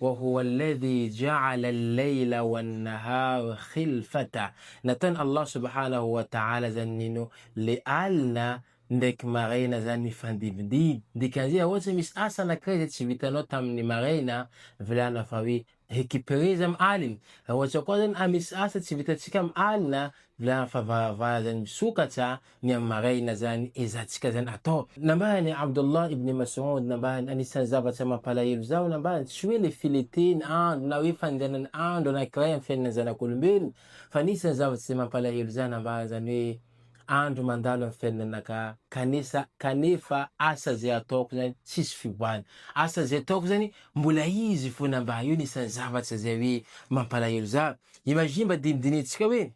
Wa huwa alladhi ja'ala al-layla wan-nahara khilfata, nataon'i Allah subhanahu wa ta'ala zany nino le alina ndraiky maraina zany mifandimbindimby, dikan'izay raha ohatra hoe misy asa anankiray zay tsy vitanao tamin'ny maraina, volana fa hoe recuperer izy amin'ny alina, raha ohatra koa zany misy asa tsy vitantsika amin'ny alina, volana fa varavara zany misokatra, ny amin'ny maraina izany ezantsika izany atao. Nambarany Abdullah ibn Mas'oud, nambarany, anisan'ny zavatra mampalahelo izaho, nambarany, tsy hoe ilay filentehan'ny andro na hoe fandehanan'ny andro anankiray amin'ny fiainan'ny zanak'olombelona, fa anisan'ny zavatra izay mampalahelo izaho, nambarany izany hoe, andro mandalo amin'ny fiainanaka, kanesa, kanefa asa izay ataoko izany tsisy fivoahana, asa izay ataoko izany mbola izy foana, mba io anisan'ny zavatra izay hoe mampalahelo izaho. Imagine mba dinidinintsika hoe.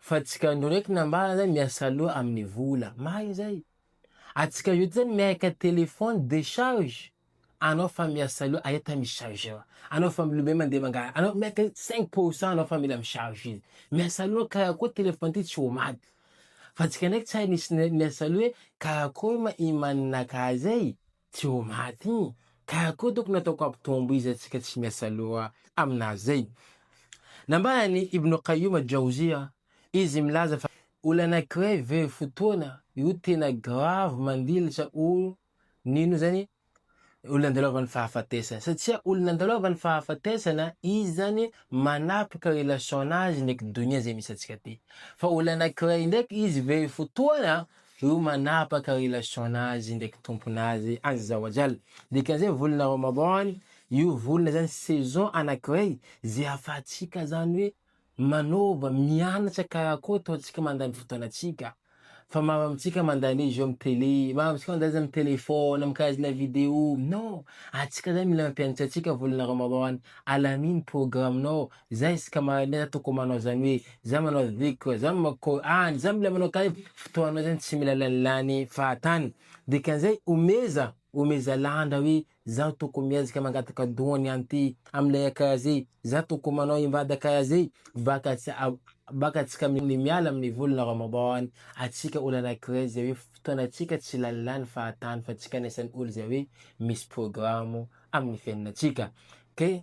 Fa tsika ndro reky nambara zany miasa loha amin'ny vola. Marigny zay. Atsika ndro zany miaika téléphone décharge anao fa miasa loha aia tamy chargeur. Anao fa milombe mandeha mangala. Anao miaika cinq pour cent anao fa mila mi-charge izy. Miasa loha karakory téléphone ty tsy ho maty. Fa tsika ndraiky tsy hay misy miasa loha hoe karakory ma i maninakahy zay. Tsy ho maty iny ka koa tokony ataoko ampitombo izy antsika tsy miasa loha aminazy zay. Nambaran'i Ibn Qayyum al-Jawziyya izy milaza fa olana anankiray very fotoana io tena grave mandilitra olo nino zany olona andalovan'ny fahafatesana satria olona andalovan'ny fahafatesana izy zany manapaka relation nazy ndraiky donia zay misy antsika ty fa olana anankiray ndraiky izy very fotoana Io manapaka relation nazy ndraiky Tompo nazy azza wa jalla. Dikan'izay volana Ramadan io volana zany saison anakiray ze ahafahantsika zany hoe manova, mianatra karakôry ataontsika mandany fotoanatsika. Fa maro amintsika mandany hoe jeux am tele, maro amintsika mandany zany am telefona, am karazana video, non! Atsika zany mila mampianatra atsika volana Ramadan, alamino programme-nao, Zah izy ka mahay nefa tokony manao zany hoe zah manao ziko zah mako any zah mila manao kay fotoanao zany tsy mila lanilany fahatany dikan'izay omeza omeza lanja hoe zaho tokony miezaka mangataka doany any ty amilay akay azy zah tokony manao invady akay azy baka tsy baka tsy ka ny miala amin'ny volana ramadan atsika olo anankiray zay hoe fotoanatsika tsy lanilany fahatany fa tsy ka anisan'ny olo zay hoe misy programo amin'ny fiainanatsika kay